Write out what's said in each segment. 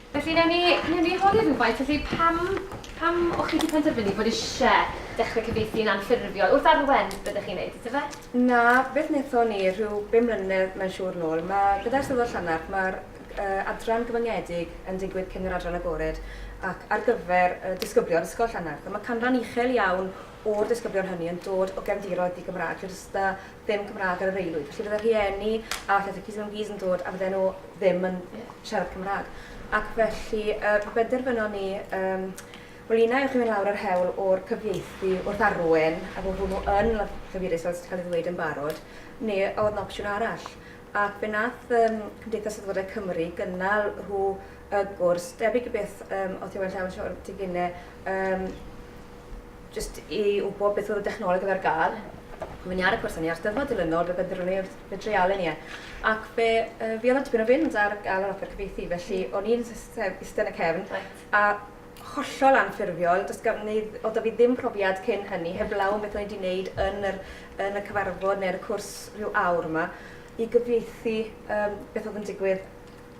Felly, newn ni, newn ni holi rhywfaint, felly pam, pam o chi wedi penderfynu bod eisiau dechrau cyfieithu'n anffurfiol? Wrth arwen, byddech chi'n neud, ydych fe? Na, beth wnaethon ni rhyw bum mlynedd mae'n siŵr nôl, mae gyda'r Steddfod Llanarch, mae'r uh, adran gyfyngiedig yn digwydd cyn yr adran agored ac ar gyfer uh, disgyblion Ysgol Llanarch. A mae canran uchel iawn o'r disgyblion hynny yn dod o gefndiroedd di-Gymraeg, lle does da ddim Cymraeg ar yr aelwyd, felly bydde rhieni a llythyr Cis mewn Cis yn dod a bydden nhw ddim yn siarad Cymraeg. Ac felly, uh, pe benderfynon ni, um, wel un ewch i mynd lawr yr hewl o'r cyfieithu wrth arwen, a bod hwnnw yn llyfurus fel sydd cael ei ddweud yn barod, neu a oedd yn opsiwn arall. Ac fe nath um, Cymdeithas Sefydlodau Cymru gynnal rhyw y gwrs, debyg i beth um, oedd Iwan Llawn Sior Tiginau, um, Jyst i wybod beth oedd y dechnoleg oedd ar gael, Mae ni ar y cwrs hynny, a'r Steddfod dilynol, fe benderfynu ni wrth fe dreialu ni e. Ac fe uh, fi oedd tipyn o fynd ar gael yr offer cyfeithi, felly mm. o'n i'n eistedd yn y cefn, right. a hollol anffurfiol, does gan ni, oedd da fi ddim profiad cyn hynny, heblaw am beth o'n i wedi wneud yn, yr, yn y cyfarfod neu'r cwrs rhyw awr yma, i gyfeithi um, beth oedd yn digwydd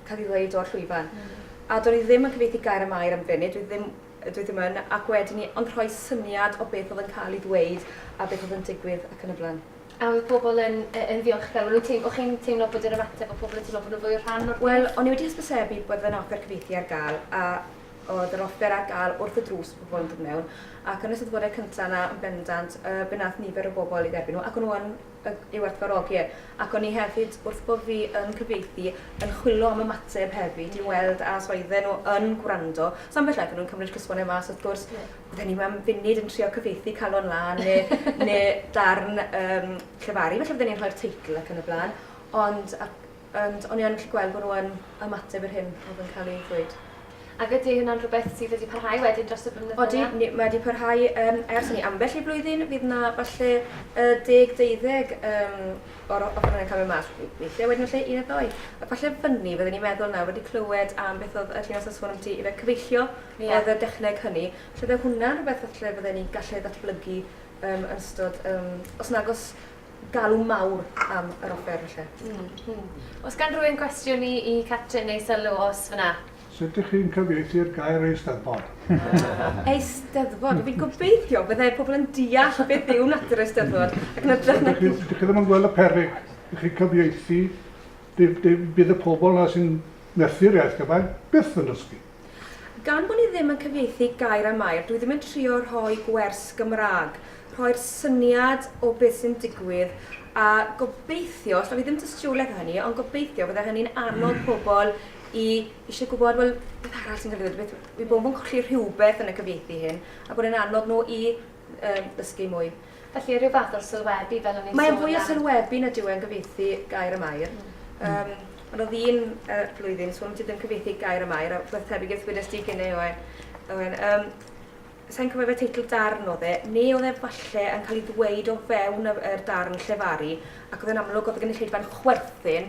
cael ei ddweud o'r llwyfan. Mm. A do'n i ddim yn cyfeithi gair y mair am funud, dwi ddim Dw i ddim yn, ac wedyn ni ond rhoi syniad o beth oedd yn cael ei ddweud a beth oedd yn digwydd ac yn y blaen. A oedd pobl yn yn ddiolchgar? O'n nhw'n teimlo... o'ch chi'n teimlo bod yr ymateb o pobl yn teimlo bod nhw'n fwy o rhan o'r peth? Wel, o'n i wedi hysbysebu bod yna offer cyfieithu ar gael, a oedd yr offer ar gael wrth y drws bod pobl yn dod mewn, ac yn y Steddfodau cynta' yna yn bendant, yy, be wnaeth nifer o bobl ei dderbyn nhw, ac o'n nhw yn yw werthfawrogi e, ac o'n i hefyd, wrth bo' fi yn cyfieithu, yn chwilo am ymateb hefyd i weld a os oedden nhw yn gwrando. So ambell waith o'n nhw'n cymryd cysgode mas wrth gwrs, oedden ni mewn funud yn trio cyfieithu calon lan ne' ne' darn yym llefaru, falle fydden ni'n rhoi'r teitl ac yn y blaen, ond a- Ond o'n i yn gallu gweld bod nhw yn ymateb i'r hyn oedd yn cael ei ddweud. Ac ydy hynna'n rhywbeth sydd wedi parhau wedyn dros y blynyddoedd? Odi, mae wedi parhau ers hynny. Ambell i blwyddyn fydd yna falle deg, deuddeg o'r ochr yna yn cael mynd mas. Weithiau wedyn falle un neu ddou. Ac falle fyny, fydden ni'n meddwl nawr, wedi clywed am beth oedd y Llinos yn sôn ambiti, ife cyfeillio oedd y dechneg hynny. Felly byddai hwnna'n rhywbeth falle fydden ni'n gallu ei ddatblygu yn ystod, os nagos galw mawr am yr offer falle. Mm, mm. Os gan rhywun gwestiwn i, i Catrin neu sylw os fyna? Sut ych chi'n cyfieithu'r gair eisteddfod? eisteddfod? Fi'n gobeithio byddai pobl yn deall beth yw natur eisteddfod. Ac na drych na... Dych chi ddim yn gweld y perig. Dych chi'n cyfieithu. Bydd y pobl na sy'n methu'r iaith gyfan byth yn dysgu. Gan bo ni ddim yn cyfieithu gair am air, dwi ddim yn trio rhoi gwers Gymraeg, rhoi'r syniad o beth sy'n digwydd a gobeithio, os da fi ddim dystiolaeth o hynny, ond gobeithio fydde hynny'n annog hmm. pobl i eisiau gwybod, wel, beth arall sy'n cael ei ddweud, beth, i bod nhw'n colli rhywbeth yn y cyfieithu hyn, a bod e'n annog nhw i yym dysgu mwy. Felly rhyw fath o'r sylwebu fel o'n i'n sôn am. Mae'n fwy o sylwebu nad yw e'n gyfieithu gair am air. Mm. Um, ond oedd un uh, blwyddyn, so ti ddim cyfieithu gair am air, a beth tebyg i'r thwynes di gynne oen. oen. Um, Sa'n cofio fe teitl darn oedd e, neu oedd e falle yn cael ei ddweud o fewn yr darn llefaru, ac oedd e'n amlwg oedd y gynulleidfa'n chwerthin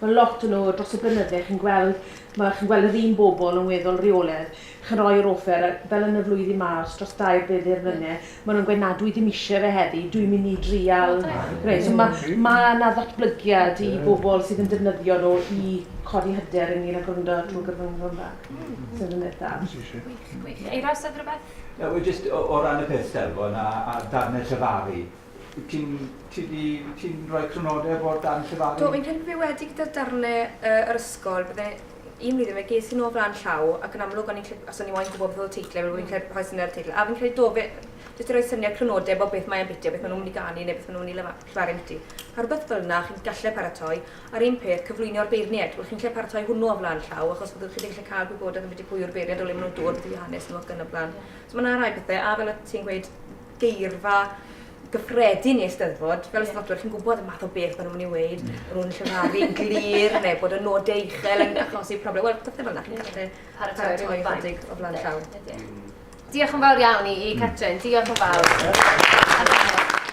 Mae lot o nhw dros y blynydde chi'n gweld, mae chi'n gweld yr un bobl yn weddol reoledd, chi'n rhoi yr offer a fel yn y flwyddyn ma os dros dair byddyr fynne ma nhw'n gweud na dwi ddim isie fe heddi dwi'n mynd i drial gwneud so ma ma na ddatblygiad i bobl sydd yn defnyddio nhw i codi hyder ynglyn a gwrando trwy gyfrwng Gymraeg so ddim beth da. Eiros oedd rhywbeth? Wel jyst o ran y peth stelfo na a darnau llefaru Wyt ti'n... ti 'di... ti'n rhoi crynodeb o dan llefaru? Do, fi'n credu bod fi wedi gyda'r darnau yy yr ysgol, bydde... un flwyddyn fe ges i nhw o flaen llaw ac yn amlwg o'n i'n credu... achos o'n i moyn gwybod beth oedd y teitlau, fi'n credu bod fi'n rhoi syniad o'r teitl, a fi'n credu do, fe... jyst i roi syniad crynodeb o beth mae ambiti a beth maen nhw'n mynd i ganu neu beth maen nhw'n mynd i lefa- llefaru ambiti. A rhywbeth fel 'na chi'n gallu paratoi. A'r un peth, cyflwynio'r beirniaid, wel chi'n gallu paratoi hwnnw o flaen llaw achos byddwch chi 'di gallu cael gwybodaeth ambiti pwy yw'r beirniaid, o le maen nhw'n dod, beth yw eu hanes nhw ac yn y blaen. So mae 'na rai pethe, a fel o't ti'n gweud, geirfa gyffredin i Eisteddfod, fel Eisteddfodwyr, chi'n gwybod y math o beth maen nhw'n ei wneud, mm. maen nhw'n llefaru'n glir, neu bod y nodau uchel yn achosi problem. Wel, pethau fel yna, chi'n gallu paratoi rhyw ychydig o flaen llaw. Diolch yn fawr iawn i, i Catrin, diolch yn fawr.